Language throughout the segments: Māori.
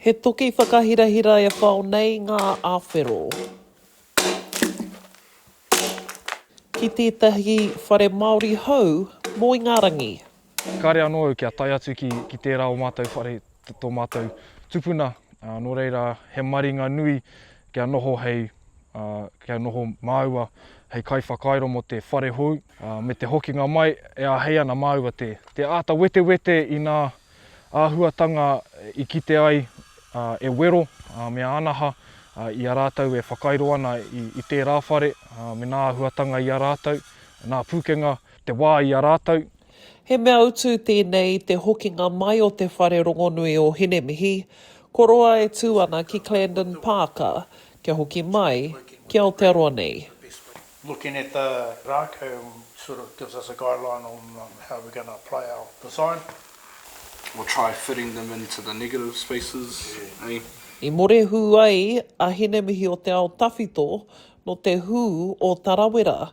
He toki whakahirahira e whao nei ngā awhero. Ki tētahi whare Māori hou mō Ingarangi. Kāre anō au kia tae atu ki tērā o mātou whare, tō mātou tupuna, nō reira he maringa nui kia noho hei, kia noho māua hei kaiwhakairo mō te whare hou, me te hokinga mai e āhei ana māua te, te āta wetewete i ngā āhuatanga i kite ai e wero me ānaha i a rātou e whakairo ana i, i tērā whare me ngā āhuatanga i a rātou, ngā pūkenga, te wā i a rātou. He mea utu tēnei i te hokinga mai o te whare rongonui o Hinemihi, ko roa e tū ana ki Clandon Parka kia hoki mai ki Aotearoa nei. Looking at the rākau sort of gives us a guideline on how we're going to apply our design or try fitting them into the negative spaces, eh? I morehu ai a Hinemihi o te ao tawhito nō te hū o Tarawera,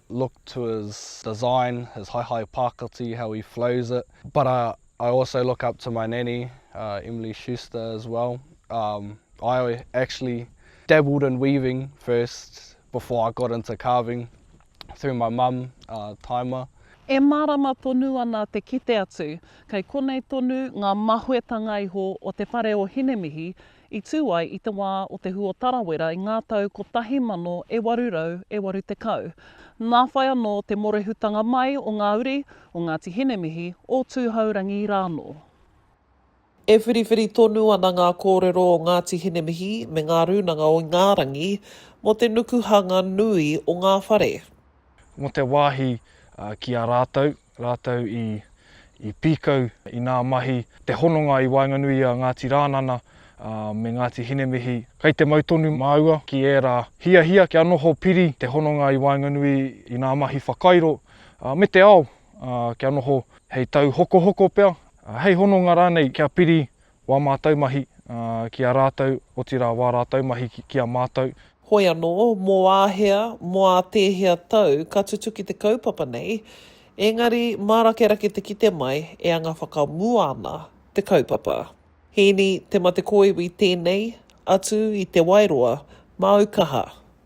look to his design, his haehae pākati, how he flows it, but I I also look up to my nanny, uh, Emily Schuster as well, um, I actually dabbled in weaving first before I got into carving through my mum, uh, Taima. E mārama tonu ana te kite atu, kei konei tonu ngā mahuetanga iho o te whare o Hinemihi i tū ai i te wā o te hua tarawera i ngā tau 1880. Nā whai anō te mōrehutanga mai o ngā uri o Ngāti Hinemihi, o Tūhourangi rānō. E whiriwhiri tonu ana ngā kōrero o Ngāti Hinemihi me ngā rūnanga o Ingārangi mō te nukuhanga nui o ngā whare. Mō te wāhi ki a rātou, rātou i pīkau i ngā mahi, te hononga i waenganui i a Ngāti Rānana me Ngāti Hinemihi, kei te mau tonu māua ki ērā hiahia kia noho piri te hononga i waenganui i ngā mahi whakairo me te ao kia noho hei tauhokohoko pea, hei hononga rānei kia piri Wā mātou mahi ki a rātou, otirā wā rātou mahi ki a mātou. Hoi anō, mō āhea, mō ā tēhea tau ka tutuki te kaupapa nei, engari mārakerake te kite mai e anga whakamua ana te kaupapa. Hīni Te Mate Kōiwi tēnei, atu i Te Wairoa, māu kaha.